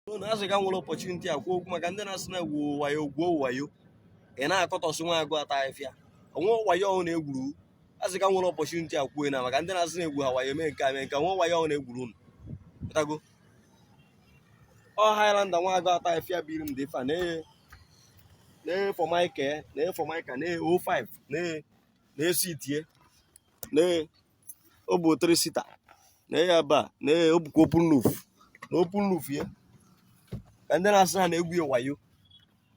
na asị ka m were opportunity a kwuo okwu maka ndị na-asị na-egwu wayo egwu wayo ị na-akọtọsị nwa agụ ata afịfịa o nwe wayo ọhụrụ na-egwuru asị ka m were opportunity a kwuo na maka ndị na-asị na-egwu ha wayo mee nke a mee nke o nwe wayo ọhụrụ na-egwuru unu pụtago ọ Highlander nwa agụ ata afịfịa biri m dị fa na-eye na-eye formica na-eye formica na-eye 05 na-eye na-esi itie na-eye ọ bụ three seater na ya ba na ya ọ bụkwa open roof na open roof ya na ndị na-asị ha na-egwu ya wayo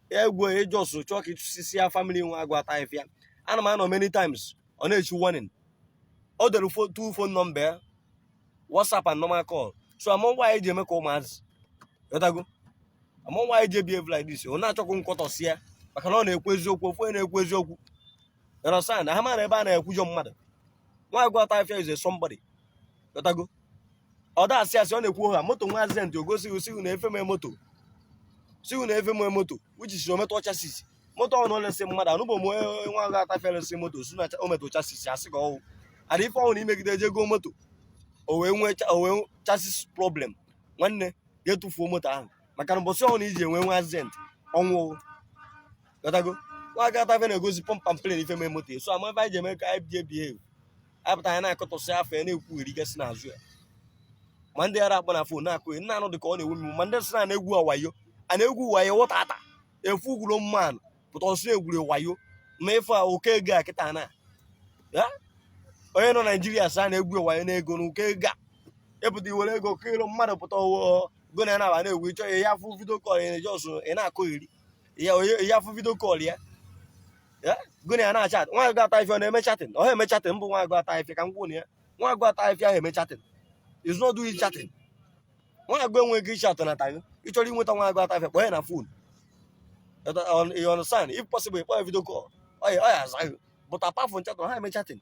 ya egwu ya ị just chọọ ka ịchụsisi ya family nwa agụ ata afịfịa ana m anụ many times ọ na-echi warning o dere two phone number ya whatsapp and normal call so amarọ m why anyị ji eme ka ụmụazị ghọtago amarọ m why anyị ji ebehave like this ọ na-achọkwu ịkọtọsị ya maka na ọ na-ekwu eziokwu ofu onye na-ekwu eziokwu You understand? Ha mara ebe a na-ekwujọ mmadụ. Nwa agụ ata afịfịa is a somebody. Ị ghọtago. Ọ da asị asị ọ na-ekwu ha moto nwee accident o gosi gị sị gị na ife mee moto. Sị gị na ife mee moto which is o metụ chassis. Moto ọ na-elesi mmadụ anụbụ m onye nwa agụ ata afịfịa lesi moto sị na o metụ chassis asị ka ọ wụ. Ada ife ọhụrụ imegide eje goo moto. O wee nwee o wee chassis problem. Nwanne ga-etufuo moto ahụ maka na mbọsị ọhụrụ iji enwe nwa accident ọnwụ ghọtago nwa agụ ata afịfịa na-egosi pump and plain ife mee moto ya so ama ebe anyị ji eme ka anyị bie behave anyị pụta anyị na-akọtọsị afọ ya na-ekwugheri gasị n'azụ ya ma ndị ara akpọ na phone na-akụ ya nna anụ dị ka ọ na-ewu mmiri ma ndị sị na na-egwu ha wayo a na-egwu wayo wọta ata efu gwuru mmadụ pụta ọ sị e gwuru wayo ma ịfụ a oke ego a kịta na ya onye nọ naijiria sị a na-egwu wayo n'ego na oke ego a ịpụta iwere ego kilo mmadụ pụta ọwụọ gụ na ya na-aba na-egwu ịchọ ya ya fụ video call ya just ị na-akọgheri ya onye ya afụ video call ya gụ na ya na-achat nwa agụ ata afịfịa ọ na-eme chatting ọ eme chatting bụ nwa agụ ata afịfịa ka m gwụ na ya nwa agụ ata afịfịa ahụ eme chatting is not doing chatting nwa agụ enweghị chatting ghọtago ị chọrọ inweta nwa agụ ata afịfịa kpọọ ya na phone you understand if possible kpọọ ya video call ọ ya aza gị but apart from chat ọ ha eme chatting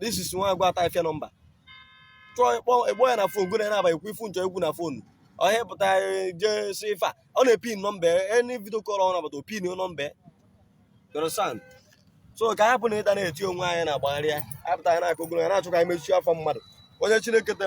this is nwa agụ ata afịfịa number chọọ ịkpọ ịkpọ ya na phone gụ na ya na-aba ekwu ife unu chọ ikwu na phone ọhịa pụta eh, jee si ife a ọ na-epin number any video call ọ na-abata o pin number you understand so ka anyị hapụ na ịta na-eti onwe anyị na-agbagharị ya anyị pụta anyị na-akụ gụna ya na-achọ ka anyị mechie afọ mmadụ onye Chineke te